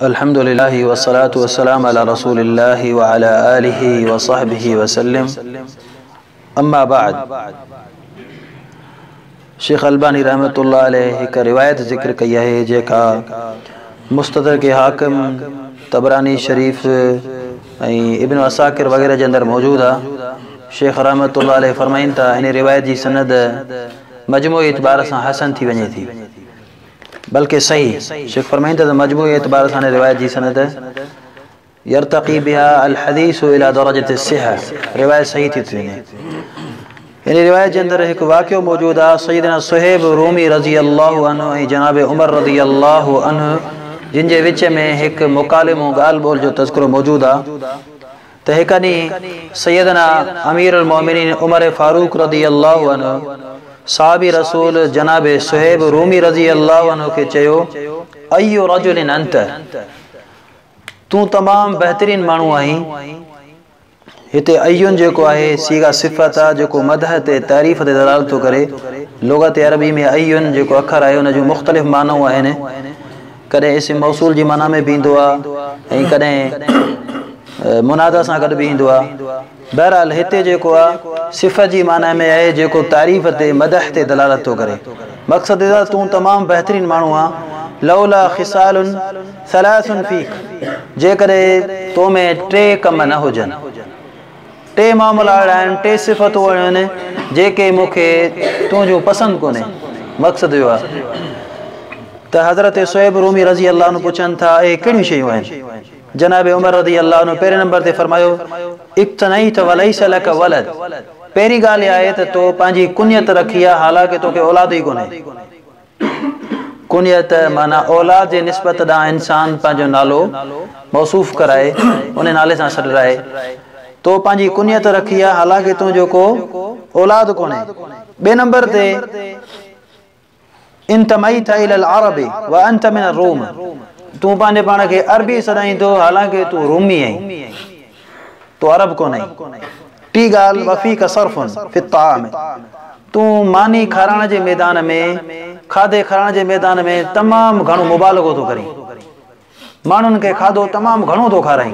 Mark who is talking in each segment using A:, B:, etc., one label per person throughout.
A: الحمد لله والصلاة والسلام على رسول الله وعلى آله وصحبه وسلم اما بعد شيخ الباني رحمت الله عليه هڪ روايت ذڪر ڪئي آهي جيڪا مستدرڪ حاڪم تبراني شريف ۽ ابن عساڪر وغيره جي اندر موجود آ شيخ رحمت الله عليه فرمائين ٿا ان روايت جي سند مجموعي اعتبار سان حسن ٿي وڃي ٿي بلڪه صحيح، شيخ فرمائين ٿا ته مجموعي اعتبار سان هن روايت جي سند يرتقي بها الحديث الي درجة الصحة، روايت صحيح ٿي ٿي وڃي. ان روايت جي اندر هڪ واقعو موجود آهي، سيدنا صهيب رومي رضي الله عنه ۽ جناب عمر رضي الله عنه جن جي وچ ۾ هڪ مڪالمو ڳالهه ٻولهه جو تذڪرو موجود آهي، ته هڪ ڏينهن سيدنا اميرالمؤمنين عمر فاروق رضي الله عنه صحابي رسول جناب صهيب رومي رضي الله عنه کي چيو، اي رجل انت، تون تمام بهترين ماڻهو آهين. هتي اي جيڪو آهي صيغه صفت آ جيڪو مدح تي تعريف تي دلالت ٿو ڪري. لغت عربي ۾ اي جيڪو اکر آهي ان جون مختلف معنائون آهن. ڪڏهن اسم موصول جي معنيٰ ۾ به ايندو آهي ۽ ڪڏهن منادا سان گڏ به ايندو آهي. بهرحال هتي جيڪو آهي صفت جي معنيٰ ۾ آهي جيڪو تعريف تي، مدح تي دلالت ٿو ڪري. مقصد ادا تون تمام بهترين ماڻهو آهين، لولا خصال ثلاث فيڪ جيڪڏهن تو ۾ ٽي ڪم نه هجن. ٽي معاملا اهڙا آهن، ٽي صفتون اهڙيون آهن، جيڪي مون کي تون جون پسند ڪونهي. مقصد اهو آهي ته حضرت صهيب رومي رضي الله عنه پڇن ٿا، اهي ڪهڙيون شيون آهن؟ جناب عمر رضي الله عنه پهرين نمبر تي فرمايو، اقتنيت وليس لك ولد، پهرين ڳالهه اها آهي ته تو پنهنجي ڪنيت رکي آهي، حالانڪه توکي اولاد ئي ڪونهي. ڪنيت، معنيٰ اولاد جي نسبت ڏانهن انسان پنهنجو نالو موصوف ڪرائي، انهي نالي سان سڏرائي. تو پنهنجي ڪنيت رکي آ، حالانڪه تون جو ڪو اولاد ڪونهي. ٻئي نمبر تي، انتميت الي العرب وانت من الروم، تون پنهنجي پاڻ کي عربي سڏائين ٿو، حالانڪه تون رومي آهين. تون عرب ڪونهين. ٽي ڳالهه وفيك صرف في الطعام تون ماني کارائڻ جي ميدان ۾ کاڌي کارائڻ جي ميدان ۾ تمام گهڻو مبالغو ٿو ڪرين. ماڻهن کي کاڌو تمام گهڻو ٿو کارائين.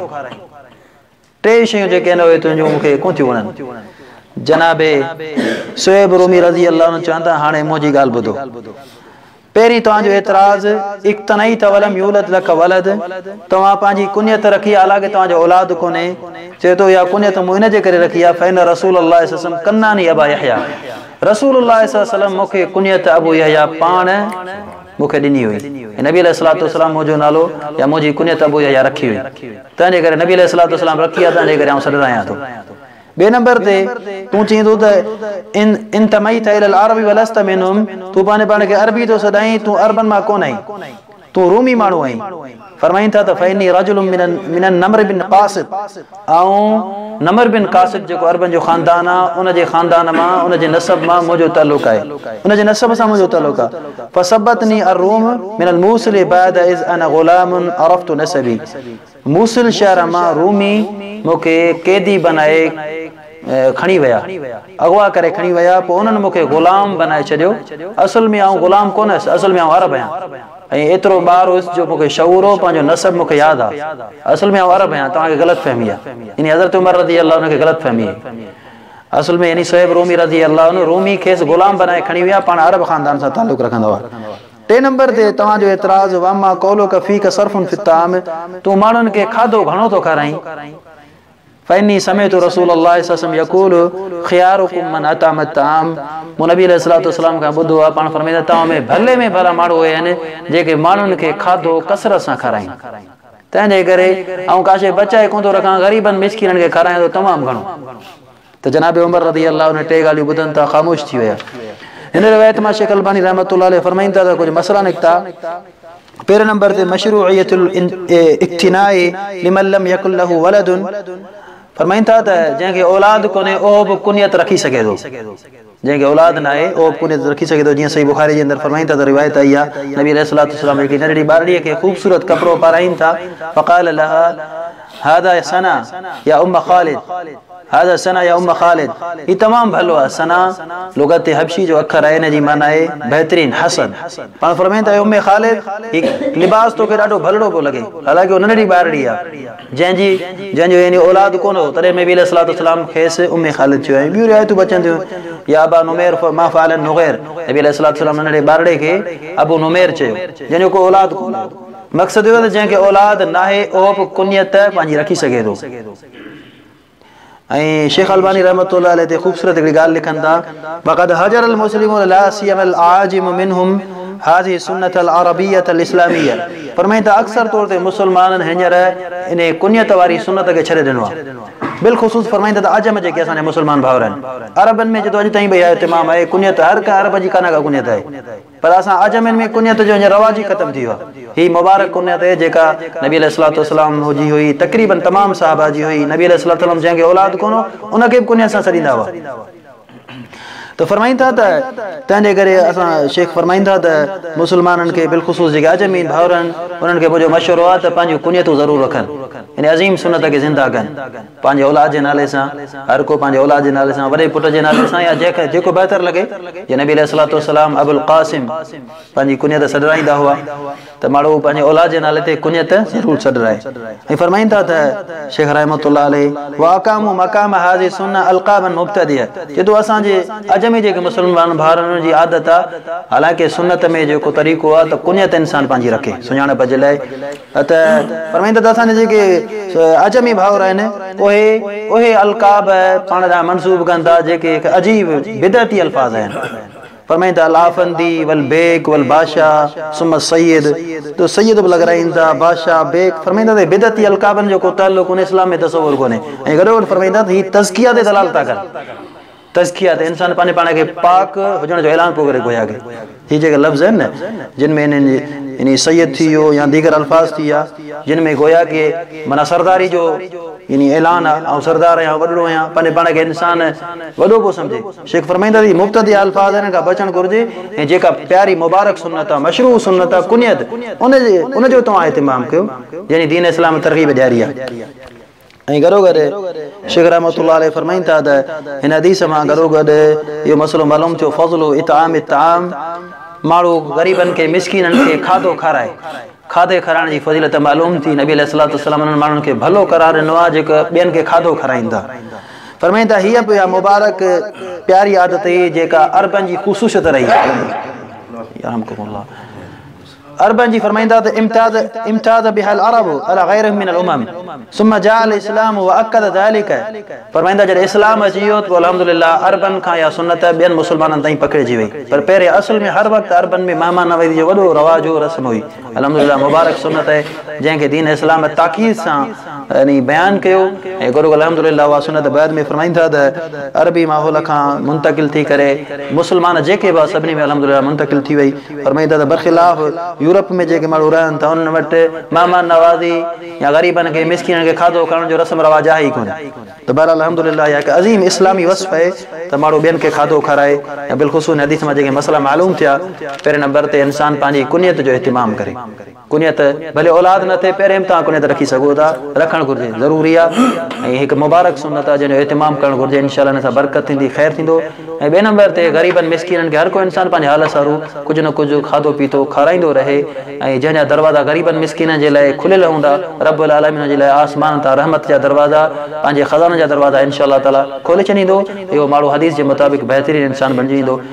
A: ٽي شيون جيڪي آهن اهي تنهنجون مون کي ڪونه ٿيون وڻن. جناب صهيب رومي رضي الله عنه چون ٿا هاڻي منهنجي ڳالهه ٻڌو. پهرين توهان جو اعتراض اقتنعي ته ولم يولد لک ولد، توهان پنهنجي ڪنيت رکي حالانڪه توهان جو اولاد ڪونهي، چئي ٿو اها ڪنيت مون ان جي ڪري رکي آهي فإن رسول الله صلي وسلم ڪناني ابا يحيٰ، رسول الله صلي الله عليه وسلم مون کي ڪنيت ابو يحيٰ پاڻ مون کي ڏني هئي ۽ نبي عليه الصلوة والسلام منهنجو نالو يا منهنجي ڪنيت ابو يحيٰ رکي هئي تنهن جي ڪري نبي عليه الصلوة والسلام رکي آهي تنهن جي ڪري آئون سڏرائيان ٿو. ٻئي نمبر تي، تون چئين ٿو ته، ان انتميت الي العرب ولست منهم، تون پنهنجي پاڻ کي عربي ٿو سڏائين، تون عربن مان ڪونه آهين، تون رومي ماڻهو آهين. فرمائين ٿا ته، فاني رجل من من النمر بن قاصد، آئون نمر بن قاصد جيڪو عربن جو خاندان آهي، ان جي خاندان مان، ان جي نسب مان منهنجو تعلق آهي، ان جي نسب سان منهنجو تعلق آهي. فسبتني الروم من الموصل بعد اذ انا غلام عرفت نسبي. موصل شهر مان رومي مون کي قيدي بنائي کڻي ويا. اغوا ڪري کڻي ويا. پوء انهن مون کي غلام بنائي ڇڏيو. اصل ۾ آئون غلام ڪونه هيس. اصل ۾ آئون عرب هيان. ۽ ايترو ٻار هيس جو مون کي شعور هو. پنهنجو نسب مون کي ياد آ. اصل ۾ آئون عرب هيان. توهان کي غلط فهمي آ. يعني حضرت عمر رضي الله عنه کي غلط فهمي هئي. اصل ۾ يعني صهيب رومي رضي الله عنه رومي کيس غلام بنائي کڻي ويا. پاڻ عرب خاندان سان تعلق رکندا هئا. ٽئين نمبر تي توهان جو اعتراض واما قولک فيک صرف في الطعام تون ماڻهن کي کاڌو گهڻو ٿو کارائين فاني سمعت رسول الله صلي الله عليه وسلم يقول خيارڪم من اطعم الطعام مون نبي عليه الصلوۃ والسلام کان ٻڌو آ پاڻ فرمائيندا توهان ۾ ڀلي ۾ ڀلا ماڻهو اهي آهن جيڪي ماڻهن کي کاڌو ڪثرت سان کارائين تنهن جي ڪري آئون ڪاشي بچائي ڪونه ٿو رکان غريبن مسڪينن کي کارايان ٿو تمام گهڻو. ته جناب عمر رضي الله عنه ٽي ڳالهيون ٻڌن ته خاموش ٿي ويا. هن روايت مان شيخ الباني رحمة الله عليه فرمائين ٿا ته ڪجهه مسئلا نڪتا، پهرين نمبر تي مشروعيت الاقتناء لمن لم يڪن له ولد، فرمائين ٿا ته جنهن کي اولاد ڪونهي اهو به ڪنيت رکي سگهي ٿو. جنهن کي اولاد ناهي، اهو به ڪونيت رکي سگهي ٿو، جيئن صحيح بخاريء جي اندر فرمائين ٿا ته روايت آئي آهي، نبي عليه الصلاة والسلام هڪڙي ننڍڙي ٻارڙيء کي خوبصورت ڪپڙو پارائين ٿا، فقال لها هذا ثنا يا ام خالد، هذا ثنا يا ام خالد، هي تمام ڀلو آهي، ثنا لغت حبشي جو اکر آهي، ان جي معنيٰ آهي بهترين، حسن. پاڻ فرمائين ٿا، اي ام خالد، هي لباس توکي ڏاڍو ڀلڙو پيو لڳي، حالانڪه هو ننڍڙي ٻارڙي آهي. جنهن جي جنهن جو يعني اولاد ڪونه هو تڏهن نبي عليه الصلاه والسلام کيس ام خالد چيو ۽ ٻيون روايتون به اچن ٿيون يا ابا نمير ما فعل النغير نبي عليه الصلاه والسلام ننڍڙي ٻارڙي کي ابو نمير چيو جنهن جو ڪو اولاد ڪونه هو مقصد اهو ته جنهن کي اولاد ناهي اهو به ڪنيت پنهنجي رکي سگهي ٿو ۽ شيخ الباني رحمة الله عليه تي خوبصورت هڪڙي ڳالهه لکن ٿا، وقد هجر المسلمون لا سيما الاعاجم منهم هذه السنة العربية الاسلامية فرمائين ٿا اڪثر طور تي مسلمانن هينئر انهي ڪنيت واري سنت کي ڇڏي ڏنو آهي. بالخصوص فرمائين ٿا ته عجم جيڪي اسان جا مسلمان ڀائر آهن عربن ۾ جدو اڄ تائين به اها اهتمام آهي ڪنيت هر ڪنهن عرب جي ڪانه ڪا ڪنيت آهي. پر اسان اعجمين ۾ ڪنيت جو هينئر رواج ئي ختم ٿي ويو آهي. هي مبارڪ ڪنيت هي جيڪا نبي عليه الصلوة والسلام جي هئي، تقريباً تمام صحابه جي هئي. نبي عليه الصلوة والسلام جنهن کي اولاد ڪونه هو، ان کي به ڪنيت سان سڏيندا هئا. ته فرمائين ٿا ته تنهنجي ڪري اسان شيخ فرمائين ٿا ته مسلمانن کي بالخصوص جيڪي اعجمين ڀائر آهن، انهن کي منهنجو مشورو آهي ته پنهنجون ڪنيتون ضرور رکن. يعني عظيم سنت کي زنده ڪن. پنهنجي اولاد جي نالي سان، هر ڪو پنهنجي اولاد جي نالي سان، وڏي پٽ جي نالي سان يا جنهن کي جيڪو بهتر لڳي، جي نبي عليه الصلوة والسلام ابوالقاسم پنهنجي ڪنيت سڏرائين دا هئا ته ماڻهو پنهنجي اولاد جي نالي تي ڪنيت ضرور سڏرائي ۽ فرمائين ٿا ته شيخ رحمة الله عليه واقاموا مقام هذه السنة القابا مبتدية چي ٿو اسان جي عجمي جيڪي مسلمان ڀائرن جي عادت آ حالانڪه سنت ۾ جيڪو طريقو آ ته ڪنيت انسان پنهنجي رکي سڃاڻپ جي لاء ته فرمائين ٿا ته اسان جا جيڪي عجمي ڀائر آهن اهي اهي القاب پاڻ ڏانهن منسوب ڪن ٿا جيڪي هڪ عجيب بدعتي الفاظ آهن فرمائين ٿا الافندي والبيگ والباشا ثم السيد ته سيد به لڳرائين ٿا باشا بيگ فرمائين ٿا ته بدعتي القابن جو ڪو تعلق ان اسلام ۾ تصور ڪونهي ۽ گڏوگڏ فرمائين ٿا ته هي تزڪيه تي دلالت ٿا ڪن تزڪيه ته انسان پنهنجي پاڻ کي پاڪ هجڻ جو اعلان پيو ڪري گويا ڪي هي جيڪي لفظ آهن نه جن ۾ هنن جي يعني سيد ٿي ويو يا ديگر الفاظ ٿي ويا جن ۾ گويا ڪي معنيٰ سرداري جو يعني اعلان آهي آئون سردار آهيان وڏڙو آهيان پنهنجي پاڻ کي انسان وڏو پيو سمجهي شيخ فرمائيندا ته هي مبتدعه الفاظ آهن هنن کان بچڻ گهرجي ۽ جيڪا پياري مبارڪ سنت آهي مشروع سنت آهي ڪنيت ان جي ان جو توهان اهتمام ڪيو يعني دين اسلام ترغيب ڏياري آهي. ۽ گڏوگڏ شيخ رحمة الله عليه فرمائين ٿا ته هن حديث مان گڏوگڏ اهو مسئلو معلوم ٿيو فضل اطعام الطعام ماڻهو غريبن کي مسڪينن کي کاڌو کارائي کاڌي کارائڻ جي فضيلت معلوم ٿي نبي عليه الصلوة والسلام انهن ماڻهن کي ڀلو قرار ڏنو آهي جيڪي ٻين کي کاڌو کارائين ٿا فرمائين ٿا هيء به اها مبارڪ پياري عادت هئي جيڪا عربن جي خصوصيت رهي يرحمڪم الله عربن جي فرمائيندا ته امتاز امتاز بها العرب علي غيرهم من الامم ثم جاء الاسلام واكد ذلك فرمائيندا جڏهن اسلام اچي ويو ته پوء الحمد لله عربن کان اها سنت ٻين مسلمانن تائين پکڙجي وئي پر پهرين اصل ۾ هر وقت عربن ۾ مهمان نوازي جو وڏو رواج هو رسم هئي الحمد لله مبارڪ سنت آهي جنهن کي دين اسلام تاڪيد سان يعني بيان ڪيو ۽ گرو الحمد لله اها سنت بعد ۾ فرمائين ٿا ته عربي ماحول کان منتقل ٿي ڪري مسلمان جيڪي به سڀني ۾ الحمد لله منتقل ٿي وئي فرمائين ٿا ته برخلاف يورپ ۾ جيڪي ماڻهو رهن ٿا انهن وٽ مهمان نوازي يا غريبن کي مسڪينن کي کاڌو کارائڻ جو رسم رواج آهي ئي ڪونه ته بهرحال الحمد لله اها هڪ عظيم اسلامي وصف آهي ته ماڻهو ٻين کي کاڌو کارائي يا بالخصوص هن حديث مان جيڪي مسئلا معلوم ٿيا پهرين نمبر تي انسان پنهنجي ڪنيت جو اهتمام ڪري. ڪنيت، ڀلي اولاد نه ٿئي پهرين به توهان ڪنيت رکي سگهو ٿا، رکڻ گهرجي، ضروري آهي ۽ هڪ مبارڪ سنت آهي جنهن جو اهتمام ڪرڻ گهرجي، انشاء الله ان سان برڪت ٿيندي، خير ٿيندو ۽ ٻئي نمبر تي غريبن مسڪينن کي هر ڪو انسان پنهنجي حال سارو ڪجهه نه ڪجهه کاڌو پيتو کارائيندو رهي ۽ جنهن جا دروازا غريبن مسڪينن جي لاء کليل هوندا رب العالمين ان جي لاء آسمانن تان رحمت جا دروازا پنهنجي خزانن جا دروازا انشاء الله تعاليٰ کولي ڇڏيندو اهو ماڻهو حديث جي مطابق بهترين انسان بڻجي ويندو.